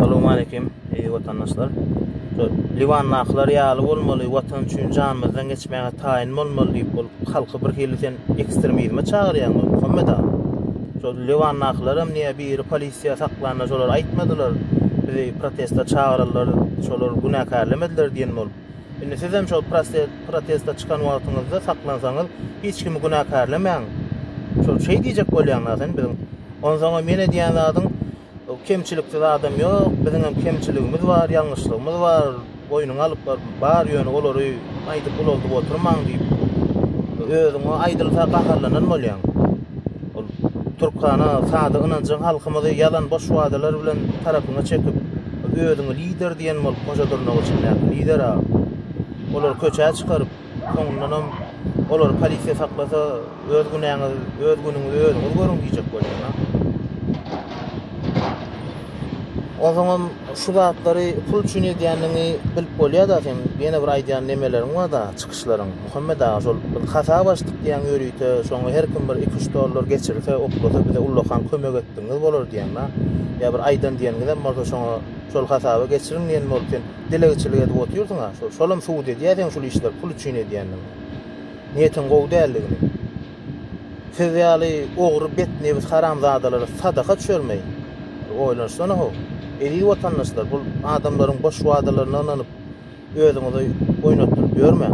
Essalowmaleýkim watandaşlar. Liwandakylar ýaly bolmaly, watan üçin janymyzdan geçmäge taýyn bolmaly diýip ol halky bir hili sen ekstremizme çagyrýaň ol Muhammet aga. Şol Liwandakylaram niýe biri polisiýa saklanda şolar aýtmadylar. Bizi protesta çagyrarlar, şolar günäkärlemediler diýen bolup. Indi sizem şol protesta çykan wagtyňyzda saklansaňyz hiç kimi günäkärlemäň. Şol şeý diýjek bolýaňda sen biziň. Onsoňam ýene diýen zadyň Kemçiliksiz adam ýok, biziňem kemçiligimiz bar, ýalňyşlygymyz bar, boýnuňa alyp bar, bar ýöne olary aýdyp ulaldyp oturmaň diýip, özüň o aýdylsa gaharlanan bolýaň. Ol Türkhana sada ynanjyň halkymyzy ýalan boş wadalar bilen tarapyňa çekip, özüňi lider diýen bolup Hoja Durnagul çenäki lider-a. Olary köçä çykaryp, Soňundanam olary polisiýa saklasa, öz günäňiz, öz günüňizi özüňiz görüň diýjek bolýar. Ozaňam şu zatlary pul üçin edýänini bilip bolýar-da sen. Ýene bir aýdýan nemeleriň bar-da, çykyşlaryň. Muhammet aga şol bir hasap açdyk diýýän ýörite, şoňa her kim bir iki-üç dollar geçirse, oklasa bize ullakan kömek etdigiňiz bolar diýýäň-de. Ýa bir aýdan diýeniňizem bolsa şoňa şol hasaba geçiriň diýen bolup sen. Dilegçilik edip otyrsyňa şol şolam subut edýär seň şul işleri pul üçin edýändigiňi. Niýetiň gowy däldigini. Siz ýaly ogry bet nebis haramzadalara sadaka düşermeý. Bir oýlanyşsana how. Eziz watandaşlar bul adamlaryň boş wadalarynda ynanyp özüňizi oýnatdyryp ýörmäň.